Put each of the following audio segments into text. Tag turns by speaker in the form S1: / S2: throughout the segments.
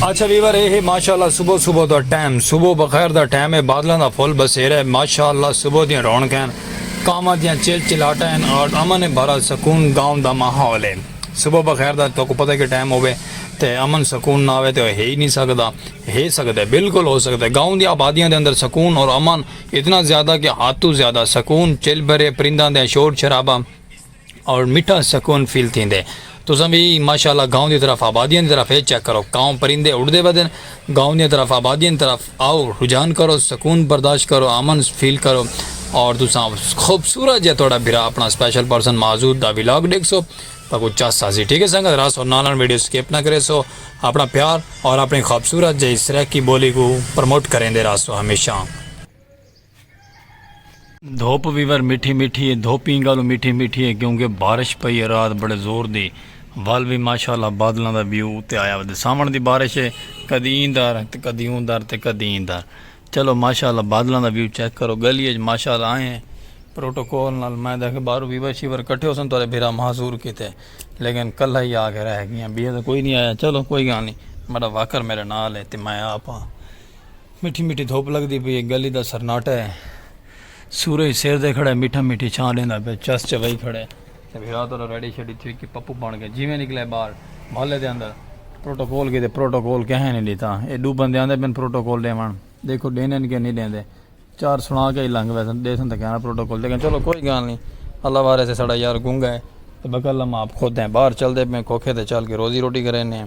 S1: اچھا ویور اے ہے ماشاءاللہ صبح صبح دا ٹائم صبح بخیر دا ٹائم ہے بادلاں دا فل بسیرا ہے ماشاءاللہ صبح دیاں رونقاں ہیں کاواں دیاں چل چلاٹاں ہیں اور امن بھرا سکون گاؤں دا ماحول ہے صبح بخیر دا تو کو پتہ کہ ٹائم ہوے تے امن سکون نہ ہوے تے ہے ہی نہیں سکدا ہے سکدا ہے بالکل ہو سکدا ہے گاؤں دی آبادیاں دے اندر سکون اور امن اتنا زیادہ کہ ہاتھ تو زیادہ سکون چل بھرے پرنداں دے شور شرابہ اور مٹھا سکون فیل تھیندے تساں وی ماشاء اللہ گاؤں دی طرف آبادیاں دی طرف اے چیک کرو کاؤں پرندے اڑدے ودن گاؤں دیاں طرف آبادیاں دی طرف آؤ رجحان کرو سکون برداشت کرو امن فیل کرو اور تساں خوبصورت جیہا تہاڈا بھرا اپنا سپیشل پرسن معزود دا ولاگ ڈیکھسو تاں کچھ چس آسی ٹھیک ہے سنگت راس اور نالن ویڈیو سکپ نہ کریسو اپنا پیار اور اپنی خوبصورت جیہی سرائیکی بولی کو پروموٹ کریندے راہسو ہمیشہ۔ دھوپ ویور میٹھی میٹھی ہے دھوپیں گالو میٹھی میٹھی ہے کیونکہ بارش پئی ہے رات بڑے زور دی ول وی ماشاءاللہ بادلاں دا ویو اتے آیا ودے ساون دی بارش ہے کدی این دار تے کدی اون دار تے کدی این دار چلو ماشاءاللہ بادلاں دا ویو چیک کرو گلی اچ ماشاءاللہ آئے ہیں پروٹوکول نال میں دیکھ بارو ویور شیور کٹھے ہو سن تو بھرا محضور کیتے لیکن کلہ ہی آ کے رہ گیا بیہ تو کوئی نہیں آیا چلو کوئی گال نہیں میرا واکر میرے نال ہے تے میں آپ ہاں مٹھی مٹھی دھپ لگدی پئی اے گلی دا سرناٹا اے سورج سر تے کھڑا اے مٹھا مٹھی چھاں ڈیندا پئے چس چوائی کھڑا اے تے بھرا تہاڈا ریڈی شیڈی تھی کے پپو بن گئے جیویں نکلے باہر محلے دے اندر پروٹوکول کیتے پروٹوکول کہیں نی ڈیتا اے ڈو بندے آندے پن پروٹوکول ڈیون دیکھو ڈیندن کے نی ڈیندے چار سنا کے ہی لنگ ویسن ڈیسن تے کہنا پروٹوکول دیکھن چلو کوئی گال نی اللہ وارث اے ساڈا یار گنگا اے تے بقل اماں آپ خود ایں باہر چلدے پئے کوکھے تے چل کے روزی روٹی کرینے اے۔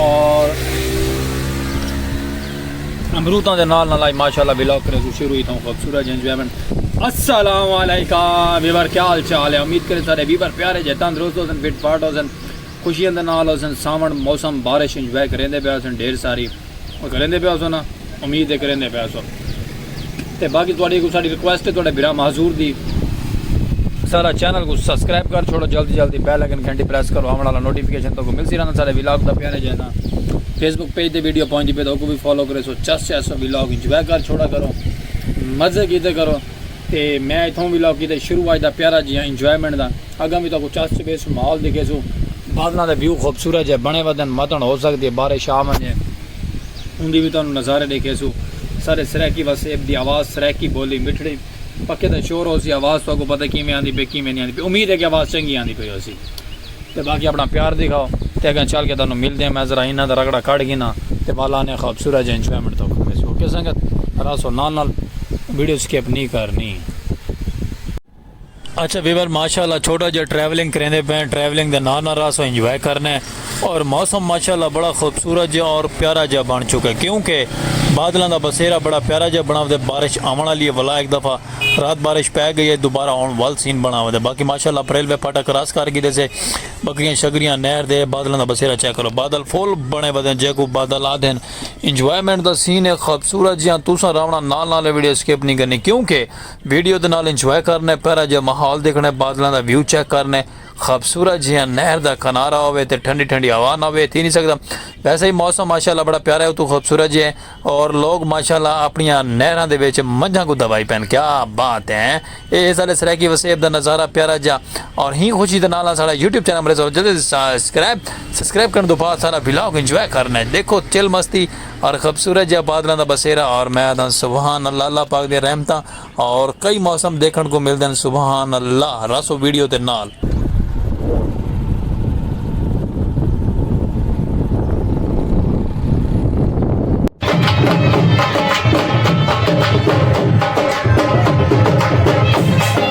S1: اور امروتاں دے نال نال آئی ماشاءاللہ بلاگ کرے سو شروع ہی تھا خوبصورت جن جویمن السلام علیکم ویور کیا حال چال ہے امید کرے سارے ویور پیارے جے تندرست ہو سن فٹ فاٹ ہو سن خوشیاں دے نال ہو سن ساون موسم بارش انجوائے کریندے پیا سن ڈھیر ساری کریندے پیا سن امید ہے کریندے پئے ہسو تے باقی تہاڈی اگوں ساڈی ریکویسٹ ہے تہاڈے بھرا معذور دی سارا چینل کو سبسکرائب کر چھوڑو جلدی جلدی بیل آئکن گھنٹی پریس کرو آون والا نوٹیفیکیشن تو کو ملسی رہنا سارے ولاگ دا پیارے جائے نا فیس بک پیج تے ویڈیو پہنچ دی پے تو کو بھی فالو کرے سو چس چس سو ولاگ انجوائے کر چھوڑا کرو مزے کیتے کرو تے میں اتھوں ولاگ کیتے شروع آج دا پیارا جی ہاں انجوائمنٹ دا اگاں بھی تو کو چس چبے سو ماحول دکھے سو بادلاں دے ویو خوبصورت جے بنے ودن متن ہو سکدی ہے بارش آ ونجے اوندی وی تہانوں نظارے ڈیکھیسوں۔ سارے سرائیکی وس ایب دی آواز سرائیکی بولی مٹھڑی پکے دا شور ہوسی آواز تہاکوں پتہ کیویں آندی پئی کیویں نی آندی پئی امید ہے کہ آواز چنگی آندی پئی ہوسی تے باقی اپنا پیار دکھاؤ تے اگاں چل کے تہانوں ملدے ہیں میں ذرا انہاں دا رگڑا کڈھ گھناں تے والا نے خوبصورت جے انجوائمنٹ تہاکوں کریسوں اوکے سنگت رہسو نال نال ویڈیو سکپ نی کرنی۔ اچھا ویور ماشاءاللہ چھوٹا جا ٹریولنگ کریندے پے ہیں ٹریولنگ دے نار نار راس انجوائے کرنے ہیں اور موسم ماشاءاللہ بڑا خوبصورت جا اور پیارا جا بن چکا ہے کیوں کہ بادلاں دا بسیرا بڑا پیارا جا بنا ودے بارش آون آلی ہے ولا ایک دفعہ رات بارش پے گئی ہے دوبارہ آون ول سین بنا ودے باقی ماشاءاللہ اپریل وے پاٹا کراس کر گی دے سے بکریاں شکریاں نہر دے بادلاں دا بسیرا چیک کرو بادل فول بنے ودے جے کو بادل آ دین انجوائمنٹ دا سین ہے خوبصورت جیاں توساں راونا نال نال ویڈیو سکپ نہیں کرنی کیوں کہ ویڈیو دے نال انجوائے کرݨے، پیرا جیہا ماحول ݙیکھݨے، بادلاں دا ویو چیک کرݨے، خوبصورت جیہاں نہر دا کنارہ ہووے تے ٹھنڈی ٹھنڈی ہوا نہ ہووے تھی نی سڳدا۔ ویسے وی موسم ماشاءاللہ بڑا پیارا ہے اتوں خوبصورت جیہے اور لوگ ماشاءاللہ اپݨیاں نہراں دے وچ منجھاں کوں دبائی پئن کیا بات ہے ہیں اے ہے ساݙے سرائیکی وسیب دا نظارہ پیارا جیہا اور ہیں خوشی دے نال نال ساݙا یوٹیوب چینل امریز آف جدید سسکرائب سسکرائب کرݨ توں بعد ساݙا ولاگ انجوائے کرݨے ݙیکھو چل مستی اور خبصورت جیہاں بادلاں دا بسیرا اور میں آدھاں سبحان اللہ اللہ پاک دیاں رحمتاں اور کئی موسم دیکھن کوں ملدن سبحان اللہ راسو ویڈیو تے نال۔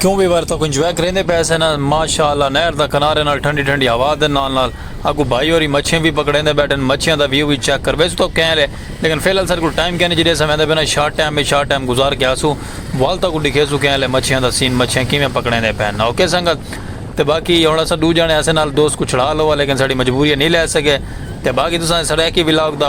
S1: کیوں بھی بار تک انجوائے کریں دے پیسے نا ماشاءاللہ نہر دا کنارے نال ٹھنڈی ٹھنڈی ہوا دے نال نال اگو بھائی اوری مچھیں بھی پکڑیں دے بیٹھن مچھیاں دا ویو بھی چیک کر ویسے تو کہیں لے لیکن فی الحال سر کو ٹائم کہیں جڑے سمیں دے بنا شارٹ ٹائم میں شارٹ ٹائم گزار کے آسو والتا کو دکھے سو کہیں لے مچھیاں دا سین مچھیاں کیویں پکڑیں دے پہن اوکے سنگت تے باقی ہن اساں ڈو جانے اسے نال دوست کوں چھڑا لووا لیکن ساڈی مجبوریاں نی لے سکے تے باقی تساں سرائیکی ولاگ دا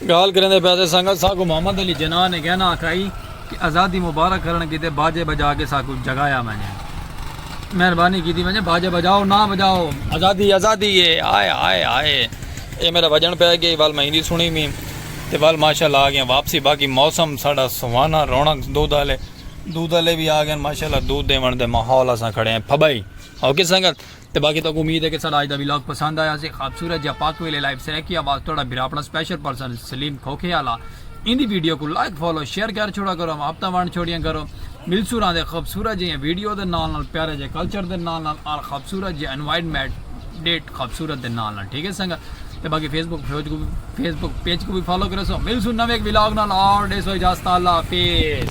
S1: گالھ کریندے پیاسے سنگت ساکوں محمد علی جناح نے گہنا آکھائی کہ آزادی مبارک کرن کیتے باجے بجا کے ساکوں جگایا ونجے مہربانی کیتی ونجے باجے بجاؤ نہ بجاؤ آزادی آزادی اے ہائے ہائے ہائے اے میرا وجن پے گئی ول میں ایندی سنی وی تے ول ماشاءاللہ آگئے واپسی باقی موسم ساڈا سہانا رونق دودھ آلے دودھ آلے وی آگئے ماشاءاللہ دودھ دیون دے ماحول اساں کھڑے ہیں پھبئی اوکے سنگت تے باقی تہاکوں امید ہے کہ ساڈا اج دا ولاگ پسند آیا ہوسی خابصورت جیہا پاک ویلے لائیو سرائیکی آواز تہاڈا بھراپڑا سپیشل پرسن سلیم کھوکھے آلا ایندی ویڈیو کوں لائک فالو شیئر کر چھوڑا کرو محبتاں ونڈ چھوڑیاں کرو ملسوں راہندے خوبصورت جیہیاں ویڈیو دے نال نال پیارے جیہے کلچر دے نال نال آل خابصورت جیہے انوائرمنٹ ڈیٹ خابصورت دے نال نال ٹھیک ہے سنگت تے باقی فیس بک فیج کو فیس بک پیج کو بھی فالو کریسو ملسوں نویں ولاگ نال آل ڈیسو اجازت اللہ حافظ